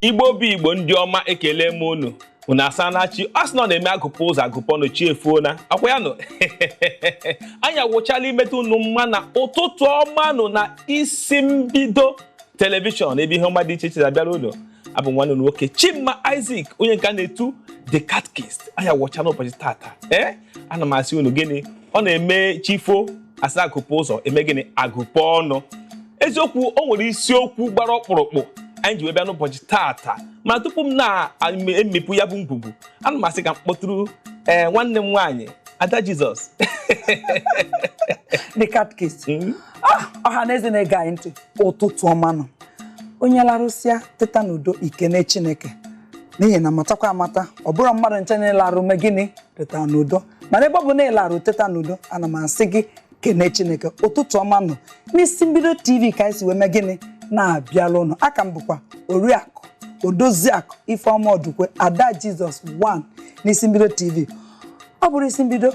igbo bụ igbo ndị ọma ekele m unu unu asaana chi a sị na ọ na-eme agụpụ ụzọ agụpụ ọnụ chi efona ọ kwa ya nụ anyị awụchala imetụ unu mma na ụtụtụ ọma nụ na isi mbido telivishọn ebe ihe ọma dị iche iche na-abịara unu abụ m nwanne unu nwoke chima isaac onye nke a na-etu the catechist anyị awụchala ụbọchị tata ee ana m asị unu gịnị ọ na-eme chi fo a sị agụpụ ụzọ e mee gịnị agụpụ ọnụ eziokwu o nwere isiokwu gbara ọkpụrụkpụ anyị ji wee bịa n'ụbọchị taata ma tupu m na-emepụ ya bụ ngwugwu ana m asị ka m kpọtụrụ ee nwanne m nwaanyị ada jizọs the catechist ọha na eze na-ege anyị ntị ụtụtụ ọma nụ onye larụsịa teta n'udo i kene chineke n'ihi na matakwa amata ọ bụrọ mmadụ ncha na-alarụ mee gịnị teta n'udo mana ebe ọ bụ na ị larụ teta n'udo ana m asị gị kene chineke ụtụtụ ọma nụ n'isi mbido tv ka anyị si wee mee gịnị na-abịalụ unu a ka m bụkwa oriakụ odoziakụ ifeọma ọdụkwe ada jizọs 1 n'isi mbido tv ọ bụrọ isi mbido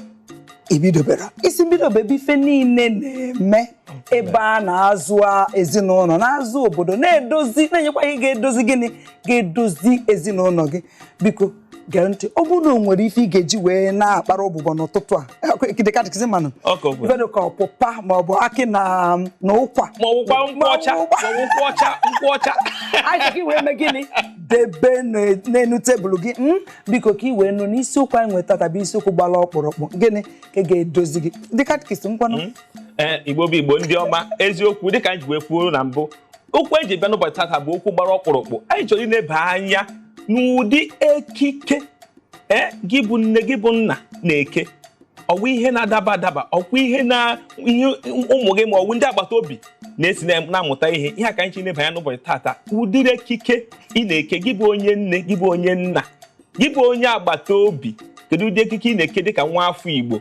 i bidobero isi mbido bụ ebe ife niile na-eme ebe a na-azụ ezinụlọ na-azụ obodo na-edozi na-enyekwa ihe ga-edozi gịnị ga-edozi ezinụlọ gị biko gee ntị ọ bụrụ na o nwere ife ị ga-eji wee na-akpara ụbụbọ n'ụtụtụ a the catechist manụ ife dị ka ọpụpa ma ọ bụ akị na na ụkwa ma ọwụkwa nkwụ ọcha ma ọwụkwa ọcha nkwụ ọcha anyị gị wee mee gịnị debe n'elu tebụl gị hmm? biko ka ị wee nụ na isiokwu anyị nwe tata bụ isiokwu gbara ọkpụrụkpụ gịnị ka ị ga-edozi gị the catechist ngwanụ hmm? ee eh, igbo bụ igbo ndị ọma eziokwu dịka m ji wee kwuo na mbụ okwu anyị ji bịa n'ụbọchị tata bụ okwu gbara ọkpụrụkpụ anyị chọrọ ịneba anya n'ụdị ekike ee gị bụ nne gị bụ nna na-eke ọ wụ ihe na-adaba adaba ọkwa ihe na ihe ụmụ gị ma ọ wụ ndị agbata obi na-esi na- na-amụta ihe ihe a ka anyị chọrọ ịneba anya n'ụbọchị tata ụdịrị ekike ị na-eke gị bụ onye nne gị bụ onye nna gị bụ onye agbata obi kedu ụdị ekike ị na-eke dịka nwa afọ Igbo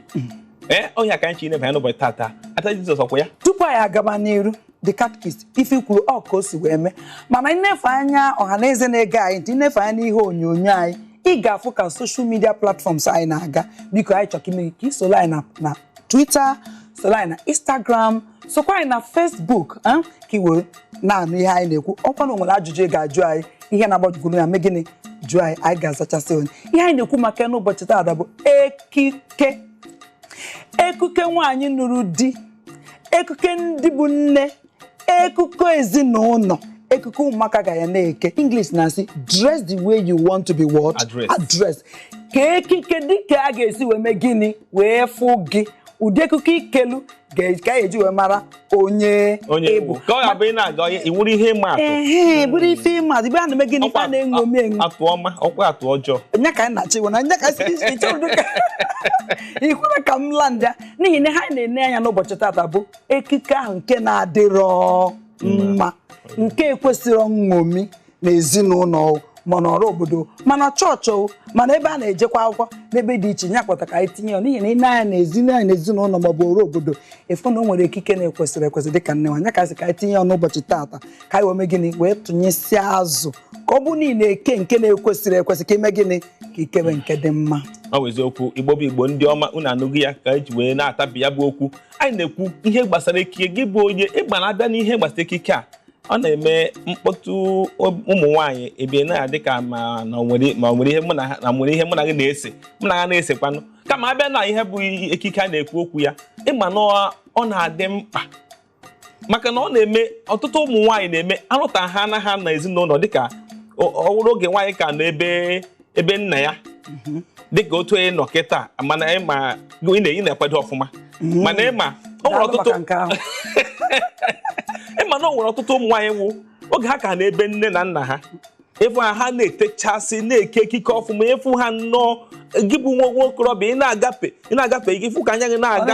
ee ọ ihe a ka anyị chọrọ ịneba anya n'ụbọchị tata ada Jizọs ọ kwa ya tupu anyị agaba n'iru the catechist ife i kwuru ọ ka o si wee mee mana ị nefe anya ọha na eze na-ege anyị ntị ị nefe anya n'ihe onyonyo anyị ị ga-afụ ka social media platforms anyị na-aga biko anyị chọrọ ime ka i soro anyị na- na twitter soro anyị na instagram sokwa anyị na facebook eh, ka i were na-anụ ihe anyị na-ekwu ọkwa na o nwere ajụjụ ị ga-ajụ anyị ihe na-agbagoju gị anya mee gịnị jụọ anyị anyị ga-azachasị onye ihe anyị na-ekwu maka ya n'ụbọchị taata bụ ekike ekike nwaanyị nụrụ di ekike ndị bụ nne ekike ezinụlọ ekike ụmụaka ga ya na-eke English na-asị dress the way you want to be what Addressed. addressed kee ekike dịka a ga-esi wee mee gịnị wee fụ gị ụdị ekike i kelu ga- ka a ga-eji wee mara onye onye ịbụ ewu ka ọ ga-abụ ị na-aga ọhịa ị wụrụ ihe ịma atụ ehe bụrụ ife ịma atụ ife a na-eme gịnị ife a na-eṅomi eṅomi atụ ọma ọkwa atụ ọjọọ nya ka anyị na-achọ iwe na nya ka si iche iche ụdị ka ị kwere ka m laa ndịa n'ihi na ha na-ene anya n'ụbọchị tata bụ ekike ahụ nke na-adịrọ mma nke kwesịrọ nṅomi na ezinụlọ o, ma n'ọra obodo o, ma na chọọchị o ma na ebe a na-ejekwa akwụkwọ n'ebe dị iche ya kpata ka anyị tinye ya n'ihi na ị nee anya na ezinụlọ anyị na ezinụlọ ma ọ bụ ọra obodo ị fụ na o nwere ekike na-ekwesịrọ ekwesị dị ka nne nwaanyị ya ka sị ka anyị tinye ya n'ụbọchị taata ka anyị wee mee gịnị wee tụnyesịa azụ ka ọ bụ na ị na-eke nke na-ekwesịrọ ekwesị ka i mee gịnị ka i kebe nke dị mma ọ bụ eziokwu igbo bụ igbo ndị ọma unu anụgo ya ka eji wee na-atabi ya bụ okwu anyị na-ekwu ihe gbasara ekike gị bụ onye igbo a bịa n'ihe gbasara ekike a ọ na-eme mkpọtụ ụmụ nwaanyị ebe ọ na-adị ka ma na nwere ma nwere ihe mụ na ha na nwere ihe mụ na gị na-ese mụ na ha na-esekwanụ kama a bịa na ihe bụ ekike a na-ekwu okwu ya ị ma na ọ na-adị mkpa maka na ọ na-eme ọtụtụ ụmụ nwaanyị na-eme a nụta ha na ha na ezinụlọ dịka ọ wụrụ oge nwaanyị ka nọ ebe ebe nna ya mhm. dịka otu onye nọ kịta mana ị na-ekwado ọfụma mhm. mana ị ma o nwere ọtụtụ ị ma na o nwere ọtụtụ ụmụ nwaanyị ọ wụ oge ha ka nọ ebe nne na nna ha ị fụ ha ha na-etechasị na-eke ekike ọfụma ị fụ ha nnọọ gị bụ nwa okorobịa ị na-agafe ị na-agafe gị fụ ka anya gị na-aga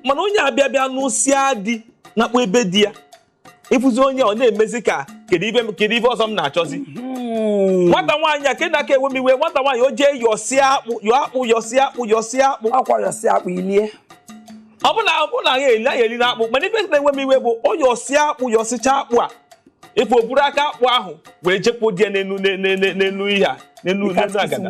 mana onye a bịa bịa nụsịa di nakpuo be di ya ị fụzi onye ọ na-emezi ka kedu ife kedu ife ọzọ m na-achọzi hmm. nwata nwaanyị a nke na-aka ewe m iwe nwata nwaanyị o jee yọsịa akpụ yọ akpụ yọsịa akpụ yọsịa akpụ akwa yọsịa akpụ ilie ọ bụ na ọ bụ na ya eli anya eli na akpụ mana ife na-ewe m iwe bụ o yọsịa akpụ yọsịcha akpụ a ife o buru aka akpụ ahụ wee jekwu di ya n'enu n'enu ihe a n'enu n'enu agada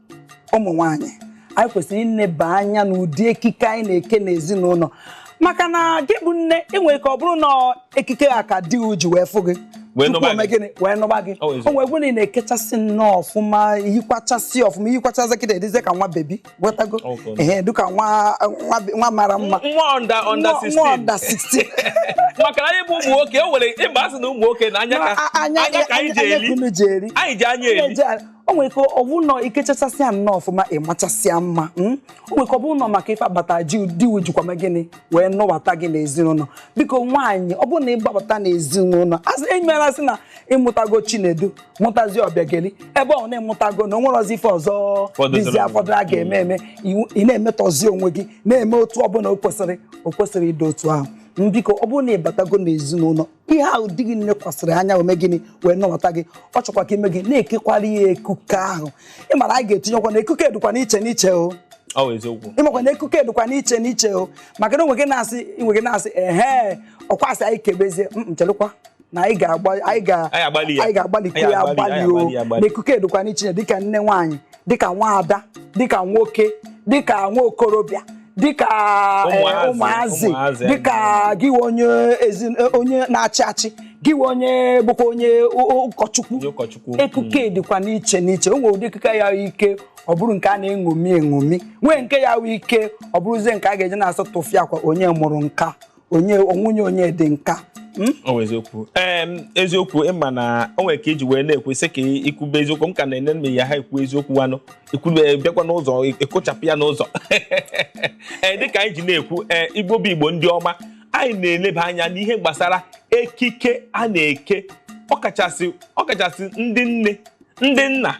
ụmụ nwaanyị anyị kwesịrị ịneba anya n'ụdị ekike anyị na-eke n'ezinụlọ maka na gị bụ nne o nwere ike ọ bụrụ na ekike ahụ ka di ụ ji wee fụ gị Wee tupu nụba o mee gị. gịnị wee nụba gị Ọ ezi. o nwere ike ọ wụ na ị na-ekechasị nnọọ ọfụma yikwachasị ọfụma yikwachasị kịta ị dịzie ka nwa bebi gwetago Ọ bụ. ehe dịka nwa nwa be- nwa mara mma nwa under under Nwa- nwa 16 under 16 maka na anyị bụ ụmụ nwoke o nwere ebe a sị na ụmụ nwoke na anya ka A- anya ka anyị ji anya ka eri unu ji eri anyị ji anya eri Anya ji- o nwere ike ọ bụrụ na i kechachasịa nnọọ ọfụma ị machasịa mma hmm? o nwere ike ọ bụrụ na maka ife a kpata ji di ụ jikwa mee gịnị wee nụbata gị n'ezinụlọ biko nwaanyị ọ bụrụ na ị gbabata n'ezinụlọ asị enyemela sị na ị mụtago chinedu mụtazi ọbịageli ebe ọ na ị mụtago na o nwerọzi ife ọzọ dịzi afọdụ a ga-eme eme ị na-emetọzi onwe gị na-eme otu ọbụla o kwesịrọ o kwesịrọ ịdị otu ahụ biko ọ bụrụ na ị batago n'ezinụlọ ihe ahụ di gị lekwasịrị anya o mee gịnị wee nụbata gị ọ chọkwa ka i mee gịnị na-ekekwara ya ekike ahụ ị mara anyị ga-etinyekwa na ekike dịkwa n'iche n'iche o ịmakwa na ekike dịkwa n'iche n'iche o maka na onwe gị na-asị inwe gị na-asị ehe ọkwa asị anyị kebezie nchelụkwa na anyị ga-agbalị ya agbalị o na ekike dịkwa n'iche dịka nne nwaanyị dịka nwaada dịka nwoke dịka nwa okorobịa dịka eh, Ụmụazị, ụmụazị ụmụazị, dịka gị wụ onye eze eh, onye na-achị achị gị wụ onye bụkwa onye ụ- ụ- ụkọchukwu Onye ụkọchukwu. ekike dịkwa n'iche n'iche o nwere ụdị ekike ya-awụ i kee ọ bụrụ nke a na-eṅomi eṅomi nwee nke ya-awụ i kee ọ bụrụzie nke a ga-eji na-asị tụfịakwa onye mụrụ nke a onye ọ nwunye onye dị nke a hmm? ọ bụ eziokwu ee eziokwu ịma na o nwere ka iji wee na-ekwu sị ka ikwube eziokwu m ka na-enye nne ya ha ekwu eziokwu wanụ ikwube bịakwa n'ụzọ ekụchapụ ya n'ụzọ ee dịka anyị ji na-ekwu ee igbo bụ igbo ndị ọma anyị na-eleba anya n'ihe gbasara ekike a na-eke ọkachasị ọkachasị ndị nne ndị nna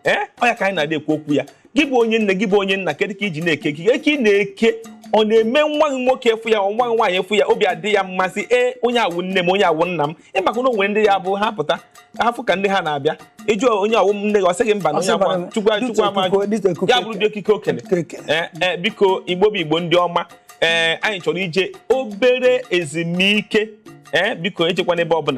ee ọ ya ka anyị na-adị ekwu okwu ya gị bụ onye nne gị bụ onye nna kedu ka iji na-eke ekike ị na-eke ọ na-eme nwa gị nwoke afụ ya nwa gị nwaanyị afụ ya obi adị ya mma sị ee onye a wụ nne m onye a wụ nna m ịmakwa na onwere ndị ya-abụ ha pụta ha fụ ka ndị ha na-abịa ị jụọ onye a wụ nne gị ọ sị gị mba na onye a kwa chukwu chukwu ama ya bụrụ ụdị ekike o kele ee e, biko igbo bụ igbo ndị ọma ee anyị chọrọ ije obere ezumike ee biko ejekwana ebe ọbụla